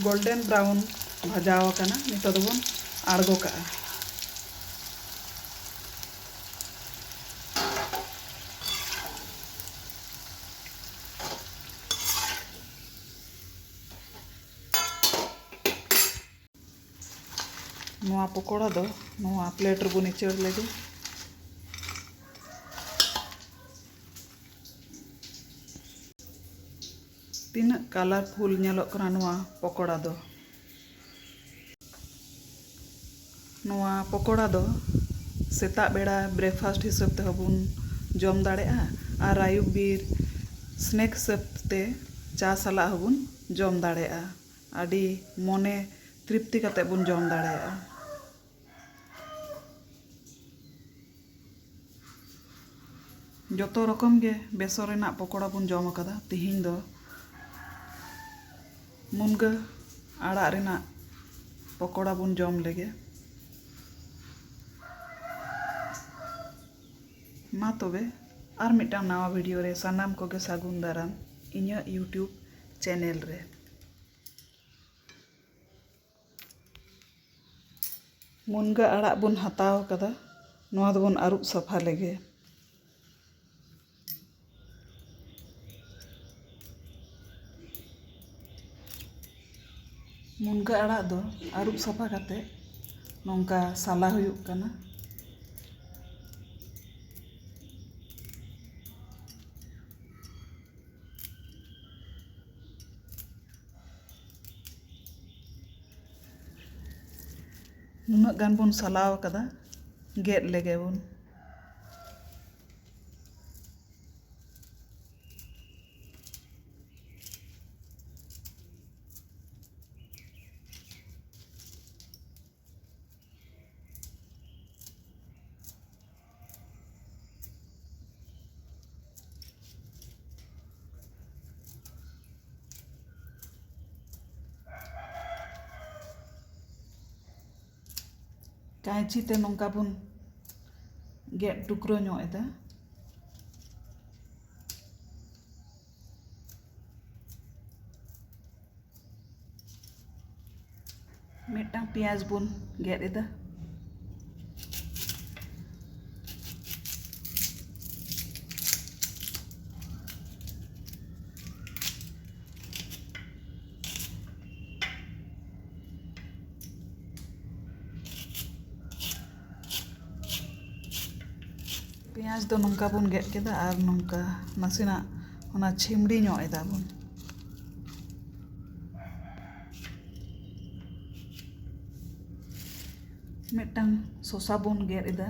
Golden brown ᱵᱷᱟᱡᱟ ᱟᱠᱟᱱᱟ ᱱᱤᱛᱚᱜ ᱫᱚᱵᱚᱱ ᱟᱬᱜᱚ ᱠᱟᱜᱼᱟ ᱱᱚᱣᱟ ᱯᱚᱠᱚᱲᱟ ᱫᱚ ᱱᱚᱣᱟ ᱯᱞᱮᱴ ᱨᱮᱵᱚᱱ ᱤᱪᱟᱹᱲ ᱞᱮᱜᱮ ᱛᱤᱱᱟᱹᱜ ᱠᱟᱞᱟᱨᱯᱷᱩᱞ ᱧᱮᱞᱚᱜ ᱠᱟᱱᱟ ᱱᱚᱣᱟ ᱯᱚᱠᱚᱲᱟ ᱫᱚ ᱱᱚᱣᱟ ᱯᱚᱠᱚᱲᱟ ᱫᱚ ᱥᱮᱛᱟᱜ ᱵᱮᱲᱟ ᱵᱨᱮᱠᱯᱷᱟᱥᱴ ᱦᱤᱥᱟᱹᱵ ᱛᱮᱦᱚᱸ ᱵᱚᱱ ᱡᱚᱢ ᱫᱟᱲᱮᱭᱟᱜᱼᱟ ᱟᱨ ᱟᱹᱭᱩᱵ ᱵᱤᱨ ᱥᱱᱮᱠ ᱦᱤᱥᱟᱹᱵ ᱛᱮ ᱪᱟ ᱥᱟᱞᱟᱜ ᱦᱚᱸᱵᱚᱱ ᱡᱚᱢ ᱫᱟᱲᱮᱭᱟᱜᱼᱟ ᱟᱹᱰᱤ ᱢᱚᱱᱮ ᱛᱨᱤᱯᱛᱤ ᱠᱟᱛᱮ ᱵᱚᱱ ᱡᱚᱢ ᱫᱟᱲᱮᱭᱟᱜᱼᱟ᱾ ᱡᱚᱛᱚ ᱨᱚᱠᱚᱢ ᱜᱮ ᱵᱮᱥᱚᱱ ᱨᱮᱱᱟᱜ ᱯᱚᱠᱚᱲᱟ ᱵᱚᱱ ᱡᱚᱢ ᱟᱠᱟᱫᱟ᱾ ᱛᱤᱦᱤᱧ ᱫᱚ ᱢᱩᱱᱜᱟᱹ ᱟᱲᱟᱜ ᱨᱮᱱᱟᱜ ᱯᱚᱠᱚᱲᱟ ᱵᱚᱱ ᱡᱚᱢ ᱞᱮᱜᱮ᱾ ᱢᱟ ᱛᱚᱵᱮ ᱟᱨ ᱢᱤᱫᱴᱟᱝ ᱱᱟᱣᱟ ᱵᱷᱤᱰᱤᱭᱳ ᱨᱮ ᱥᱟᱱᱟᱢ ᱠᱚᱜᱮ ᱥᱟᱹᱜᱩᱱ ᱫᱟᱨᱟᱢ ᱤᱧᱟᱹᱜ ᱭᱩᱴᱭᱩᱵᱽ ᱪᱮᱱᱮᱞ ᱨᱮ᱾ ᱢᱩᱱᱜᱟᱹ ᱟᱲᱟᱜ ᱵᱚᱱ ᱦᱟᱛᱟᱣ ᱠᱟᱫᱟ ᱱᱚᱣᱟ ᱫᱚᱵᱚᱱ ᱟᱹᱨᱩᱵ ᱥᱟᱯᱷᱟ ᱞᱮᱜᱮ ᱢᱩᱱᱜᱟᱹ ᱟᱲᱟᱜ ᱫᱚ ᱟᱹᱨᱩᱵ ᱥᱟᱯᱷᱟ ᱠᱟᱛᱮ ᱱᱚᱝᱠᱟ ᱥᱟᱞᱟ ᱦᱩᱭᱩᱜ ᱠᱟᱱᱟ ᱱᱩᱱᱟᱹᱜ ᱜᱟᱱ ᱵᱚᱱ ᱥᱟᱞᱟᱣ ᱠᱟᱫᱟ ᱜᱮᱫ ᱞᱮᱜᱮ ᱵᱚᱱ ᱠᱟᱺᱪᱤ ᱛᱮ ᱱᱚᱝᱠᱟ ᱵᱚᱱ ᱜᱮᱫ ᱴᱩᱠᱨᱟᱹ ᱧᱚᱜ ᱮᱫᱟ ᱢᱤᱫᱴᱟᱝ ᱯᱮᱸᱭᱟᱡᱽ ᱵᱚᱱ ᱜᱮᱫ ᱮᱫᱟ ᱯᱮᱸᱭᱟᱡᱽ ᱫᱚ ᱱᱚᱝᱠᱟ ᱵᱚᱱ ᱜᱮᱫ ᱠᱮᱫᱟ ᱟᱨ ᱱᱚᱝᱠᱟ ᱱᱟᱥᱮᱱᱟᱜ ᱚᱱᱟ ᱪᱷᱤᱢᱲᱤ ᱧᱚᱜ ᱮᱫᱟᱵᱚᱱ ᱢᱤᱫᱴᱟᱝ ᱥᱚᱥᱟ ᱵᱚᱱ ᱜᱮᱫ ᱮᱫᱟ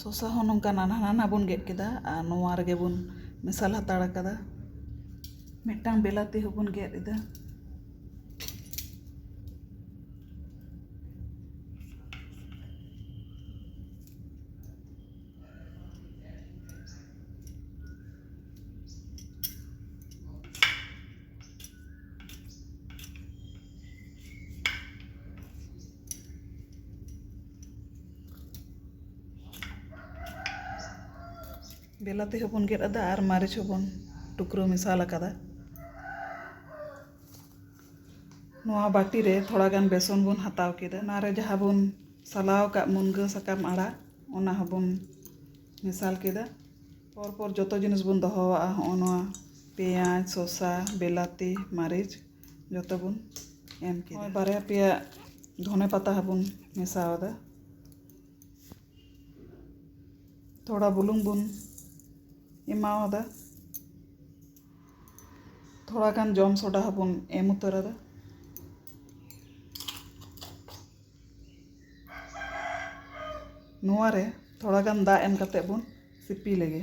ᱥᱚᱥᱟ ᱦᱚᱸ ᱱᱚᱝᱠᱟ ᱱᱟᱱᱦᱟ ᱱᱟᱱᱦᱟ ᱵᱚᱱ ᱜᱮᱫ ᱠᱮᱫᱟ ᱟᱨ ᱱᱚᱣᱟ ᱨᱮᱜᱮ ᱵᱚᱱ ᱢᱮᱥᱟᱞ ᱦᱟᱛᱟᱲ ᱠᱟᱫᱟ ᱢᱤᱫᱴᱟᱝ ᱵᱤᱞᱟᱹᱛᱤ ᱦᱚᱸᱵᱚᱱ ᱜᱮᱫ ᱮᱫᱟ ᱵᱤᱞᱟᱹᱛᱤ ᱦᱚᱸᱵᱚᱱ ᱜᱮᱫ ᱟᱫᱟ ᱟᱨ ᱢᱟᱹᱨᱤᱪ ᱦᱚᱸᱵᱚᱱ ᱴᱩᱠᱨᱟᱹ ᱢᱮᱥᱟᱞ ᱟᱠᱟᱫᱟ ᱱᱚᱣᱟ ᱵᱟᱹᱴᱤ ᱨᱮ ᱛᱷᱚᱲᱟ ᱜᱟᱱ ᱵᱮᱥᱚᱱ ᱵᱚᱱ ᱦᱟᱛᱟᱣ ᱠᱮᱫᱟ ᱚᱱᱟ ᱨᱮ ᱡᱟᱦᱟᱸ ᱵᱚᱱ ᱥᱟᱞᱟᱣ ᱟᱠᱟᱫ ᱢᱩᱱᱜᱟᱹ ᱥᱟᱠᱟᱢ ᱟᱲᱟᱜ ᱚᱱᱟ ᱦᱚᱸᱵᱚᱱ ᱢᱮᱥᱟᱞ ᱠᱮᱫᱟ ᱯᱚᱨ ᱯᱚᱨ ᱡᱚᱛᱚ ᱡᱤᱱᱤᱥ ᱵᱚᱱ ᱫᱚᱦᱚᱣᱟᱜᱼᱟ ᱦᱚᱸᱜᱼᱚ ᱱᱚᱣᱟ ᱯᱮᱸᱭᱟᱡᱽ ᱥᱚᱥᱟ ᱵᱤᱞᱟᱹᱛᱤ ᱢᱟᱹᱨᱤᱪ ᱡᱚᱛᱚ ᱵᱚᱱ ᱮᱢ ᱠᱮᱫᱟ ᱱᱚᱜᱼᱚᱭ ᱵᱟᱨᱭᱟ ᱯᱮᱭᱟ ᱫᱷᱚᱱᱮ ᱯᱟᱛᱟ ᱦᱚᱸ ᱵᱚᱱ ᱢᱮᱥᱟ ᱟᱫᱟ ᱛᱷᱚᱲᱟ ᱵᱩᱞᱩᱝ ᱵᱚᱱ ᱮᱢᱟ ᱟᱫᱟ ᱛᱷᱚᱲᱟ ᱜᱟᱱ ᱡᱚᱢ ᱥᱚᱰᱟ ᱦᱚᱸ ᱵᱚᱱ ᱮᱢ ᱩᱛᱟᱹᱨ ᱟᱫᱟ ᱱᱚᱣᱟ ᱨᱮ ᱛᱷᱚᱲᱟ ᱜᱟᱱ ᱫᱟᱜ ᱮᱢ ᱠᱟᱛᱮᱫ ᱵᱚᱱ ᱥᱤᱯᱤ ᱞᱮᱜᱮ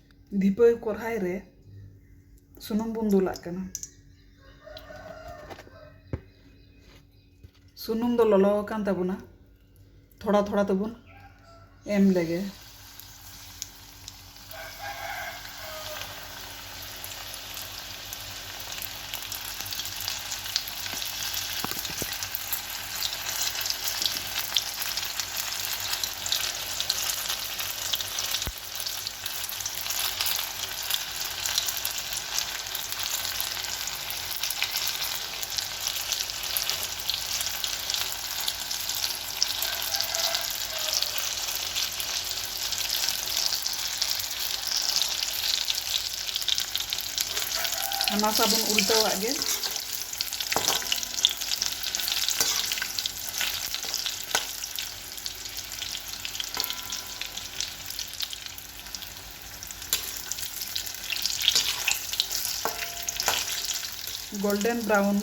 ᱫᱷᱤᱯᱟᱹᱣ ᱠᱚᱨᱦᱟᱭ ᱨᱮ ᱥᱩᱱᱩᱢ ᱵᱚᱱ ᱫᱩᱞᱟᱜ ᱠᱟᱱᱟ ᱥᱩᱱᱩᱢ ᱫᱚ ᱞᱚᱞᱚ ᱟᱠᱟᱱ ᱛᱟᱵᱚᱱᱟ ᱛᱷᱚᱲᱟ ᱛᱷᱚᱲᱟ ᱛᱮᱵᱚᱱ ᱮᱢ ᱞᱮᱜᱮ ᱦᱟᱱᱟ ᱥᱟ ᱵᱚᱱ ᱩᱞᱴᱟᱹᱣᱟᱜ ᱜᱮ ᱜᱳᱞᱰᱮᱱ ᱵᱨᱟᱣᱩᱱ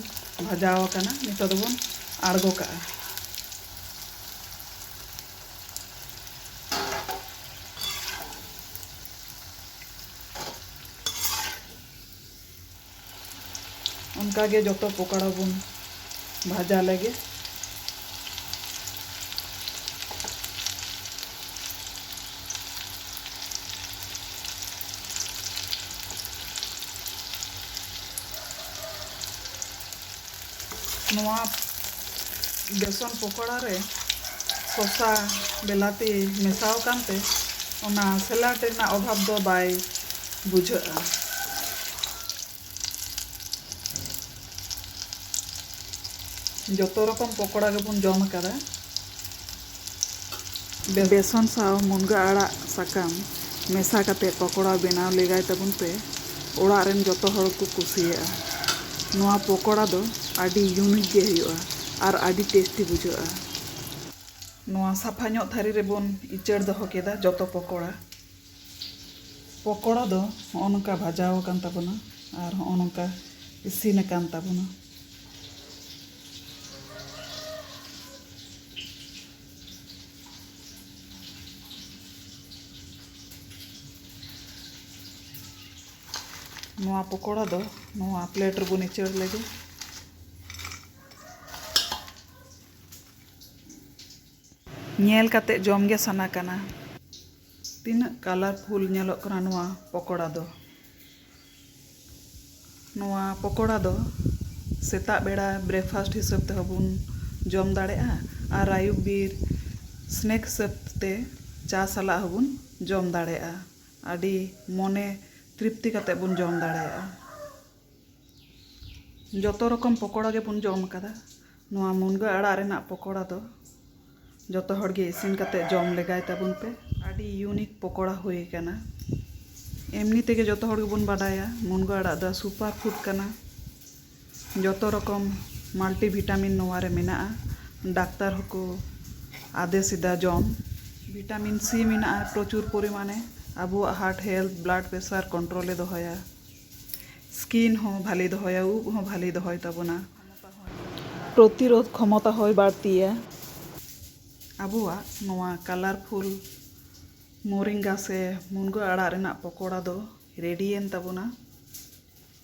ᱵᱷᱟᱡᱟᱣ ᱟᱠᱟᱱᱟ ᱱᱤᱛᱚᱜ ᱫᱚᱵᱚᱱ ᱟᱬᱜᱚ ᱠᱟᱜᱼᱟ ᱚᱱᱠᱟ ᱜᱮ ᱡᱚᱛᱚ ᱯᱚᱠᱚᱲᱟ ᱵᱚᱱ ᱵᱷᱟᱡᱟ ᱞᱮᱜᱮ ᱱᱚᱣᱟ ᱵᱮᱥᱚᱱ ᱯᱚᱠᱚᱲᱟ ᱨᱮ ᱥᱚᱥᱟ ᱵᱮᱞᱟᱛᱤ ᱢᱮᱥᱟ ᱟᱠᱟᱱ ᱛᱮ ᱚᱱᱟ ᱥᱮᱞᱟᱰ ᱨᱮᱱᱟᱜ ᱚᱵᱷᱟᱵᱽ ᱫᱚ ᱵᱟᱭ ᱵᱩᱡᱷᱟᱹᱜᱼᱟ᱾ ᱡᱚᱛᱚ ᱨᱚᱠᱚᱢ ᱯᱚᱠᱚᱲᱟ ᱜᱮᱵᱚᱱ ᱡᱚᱢ ᱟᱠᱟᱫᱟ᱾ ᱵᱮᱥᱚᱱ ᱥᱟᱶ ᱢᱩᱱᱜᱟᱹ ᱟᱲᱟᱜ ᱥᱟᱠᱟᱢ ᱢᱮᱥᱟ ᱠᱟᱛᱮ ᱯᱚᱠᱚᱲᱟ ᱵᱮᱱᱟᱣ ᱞᱮᱜᱟᱭ ᱛᱟᱵᱚᱱ ᱯᱮ ᱚᱲᱟᱜ ᱨᱮᱱ ᱡᱚᱛᱚ ᱦᱚᱲ ᱠᱚ ᱠᱩᱥᱤᱭᱟᱜᱼᱟ ᱱᱚᱣᱟ ᱯᱚᱠᱚᱲᱟ ᱫᱚ ᱟᱹᱰᱤ ᱭᱩᱱᱤᱠ ᱜᱮ ᱦᱩᱭᱩᱜᱼᱟ ᱟᱨ ᱟᱹᱰᱤ ᱴᱮᱥᱴᱤ ᱵᱩᱡᱷᱟᱹᱜᱼᱟ᱾ ᱱᱚᱣᱟ ᱥᱟᱯᱷᱟ ᱧᱚᱜ ᱛᱷᱟᱹᱨᱤ ᱨᱮ ᱵᱚᱱ ᱤᱪᱟᱹᱲ ᱫᱚᱦᱚ ᱠᱮᱫᱟ ᱡᱚᱛᱚ ᱯᱚᱠᱚᱲᱟ᱾ ᱯᱚᱠᱚᱲᱟ ᱫᱚ ᱦᱚᱸᱜᱼᱚ ᱱᱚᱝᱠᱟ ᱵᱷᱟᱡᱟᱣ ᱟᱠᱟᱱ ᱛᱟᱵᱚᱱᱟ ᱟᱨ ᱦᱚᱸᱜᱼᱚ ᱱᱚᱝᱠᱟ ᱤᱥᱤᱱ ᱟᱠᱟᱱ ᱛᱟᱵᱚᱱᱟ᱾ ᱱᱚᱣᱟ ᱯᱚᱠᱚᱲᱟ ᱫᱚ ᱱᱚᱣᱟ ᱯᱞᱮᱴ ᱨᱮᱵᱚᱱ ᱤᱪᱟᱹᱲ ᱞᱮᱜᱮ ᱧᱮᱞ ᱠᱟᱛᱮ ᱡᱚᱢ ᱜᱮ ᱥᱟᱱᱟ ᱠᱟᱱᱟ ᱛᱤᱱᱟᱹᱜ ᱠᱟᱞᱟᱨᱯᱷᱩᱞ ᱧᱮᱞᱚᱜ ᱠᱟᱱᱟ ᱱᱚᱣᱟ ᱯᱚᱠᱚᱲᱟ ᱫᱚ ᱱᱚᱣᱟ ᱯᱚᱠᱚᱲᱟ ᱫᱚ ᱥᱮᱛᱟᱜ ᱵᱮᱲᱟ ᱵᱨᱮᱠᱯᱷᱟᱥᱴ ᱦᱤᱥᱟᱹᱵ ᱛᱮᱦᱚᱸ ᱵᱚᱱ ᱡᱚᱢ ᱫᱟᱲᱮᱭᱟᱜᱼᱟ ᱟᱨ ᱟᱹᱭᱩᱵ ᱵᱤᱨ ᱥᱱᱮᱠ ᱦᱤᱥᱟᱹᱵ ᱛᱮ ᱪᱟ ᱥᱟᱞᱟᱜ ᱦᱚᱸᱵᱚᱱ ᱡᱚᱢ ᱫᱟᱲᱮᱭᱟᱜᱼᱟ ᱟᱹᱰᱤ ᱢᱚᱱᱮ ᱛᱨᱤᱯᱛᱤ ᱠᱟᱛᱮ ᱵᱚᱱ ᱡᱚᱢ ᱫᱟᱲᱮᱭᱟᱜᱼᱟ ᱡᱚᱛᱚ ᱨᱚᱠᱚᱢ ᱯᱚᱠᱚᱲᱟ ᱜᱮᱵᱚᱱ ᱡᱚᱢ ᱠᱟᱫᱟ ᱱᱚᱣᱟ ᱢᱩᱱᱜᱟᱹ ᱟᱲᱟᱜ ᱨᱮᱱᱟᱜ ᱯᱚᱠᱚᱲᱟ ᱫᱚ ᱡᱚᱛᱚ ᱦᱚᱲ ᱜᱮ ᱤᱥᱤᱱ ᱠᱟᱛᱮ ᱡᱚᱢ ᱞᱮᱜᱟᱭ ᱛᱟᱵᱚᱱ ᱯᱮ ᱟᱹᱰᱤ ᱤᱭᱩᱱᱤᱠ ᱯᱚᱠᱚᱲᱟ ᱦᱩᱭ ᱟᱠᱟᱱᱟ ᱮᱢᱱᱤ ᱛᱮᱜᱮ ᱡᱚᱛᱚ ᱦᱚᱲ ᱜᱮᱵᱚᱱ ᱵᱟᱰᱟᱭᱟ ᱢᱩᱱᱜᱟᱹ ᱟᱲᱟᱜ ᱫᱚ ᱥᱩᱯᱟᱨ ᱯᱷᱩᱰ ᱠᱟᱱᱟ ᱡᱚᱛᱚ ᱨᱚᱠᱚᱢ ᱢᱟᱞᱴᱤ ᱵᱷᱤᱴᱟᱢᱤᱱ ᱱᱚᱣᱟ ᱨᱮ ᱢᱮᱱᱟᱜᱼᱟ ᱰᱟᱠᱛᱟᱨ ᱦᱚᱸᱠᱚ ᱟᱫᱮᱥ ᱮᱫᱟ ᱡᱚᱢ ᱵᱷᱤᱴᱟᱢᱤᱱ ᱥᱤ ᱢᱮᱱᱟᱜᱼᱟ ᱯᱨᱚᱪᱩᱨ ᱯᱚᱨᱤᱢᱟᱱᱮ ᱟᱵᱚᱣᱟᱜ ᱦᱟᱨᱴ ᱦᱮᱞᱛᱷ ᱵᱞᱟᱰ ᱯᱨᱮᱥᱟᱨ ᱠᱚᱱᱴᱨᱳᱞᱮ ᱫᱚᱦᱚᱭᱟ ᱥᱠᱤᱱ ᱦᱚᱸ ᱵᱷᱟᱞᱮ ᱫᱚᱦᱚᱭᱟ ᱩᱵ ᱦᱚᱸ ᱵᱷᱟᱞᱮ ᱫᱚᱦᱚᱭ ᱛᱟᱵᱚᱱᱟ ᱯᱨᱚᱛᱤᱨᱳᱫᱷ ᱠᱷᱚᱢᱚᱛᱟ ᱦᱚᱸᱭ ᱵᱟᱹᱲᱛᱤᱭᱟ᱾ ᱟᱵᱚᱣᱟᱜ ᱱᱚᱣᱟ ᱠᱟᱞᱟᱨᱯᱷᱩᱞ ᱢᱳᱨᱤᱝᱜᱟ ᱥᱮ ᱢᱩᱱᱜᱟᱹ ᱟᱲᱟᱜ ᱨᱮᱱᱟᱜ ᱯᱚᱠᱚᱲᱟ ᱫᱚ ᱨᱮᱰᱤᱭᱮᱱ ᱛᱟᱵᱚᱱᱟ᱾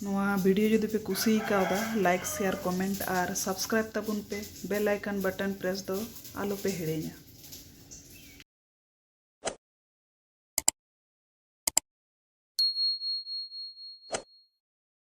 ᱱᱚᱣᱟ ᱵᱷᱤᱰᱤᱭᱳ ᱡᱩᱫᱤ ᱯᱮ ᱠᱩᱥᱤᱭ ᱠᱟᱣᱫᱟ ᱞᱟᱭᱤᱠ ᱥᱮᱭᱟᱨ ᱠᱚᱢᱮᱱᱴ ᱟᱨ ᱥᱟᱵᱥᱠᱨᱟᱭᱤᱵ ᱛᱟᱵᱚᱱ ᱯᱮ ᱵᱮᱞ ᱟᱭᱠᱚᱱ ᱵᱟᱴᱚᱱ ᱯᱨᱮᱥ ᱫᱚ ᱟᱞᱚ ᱯᱮ ᱦᱤᱲᱤᱧᱟ᱾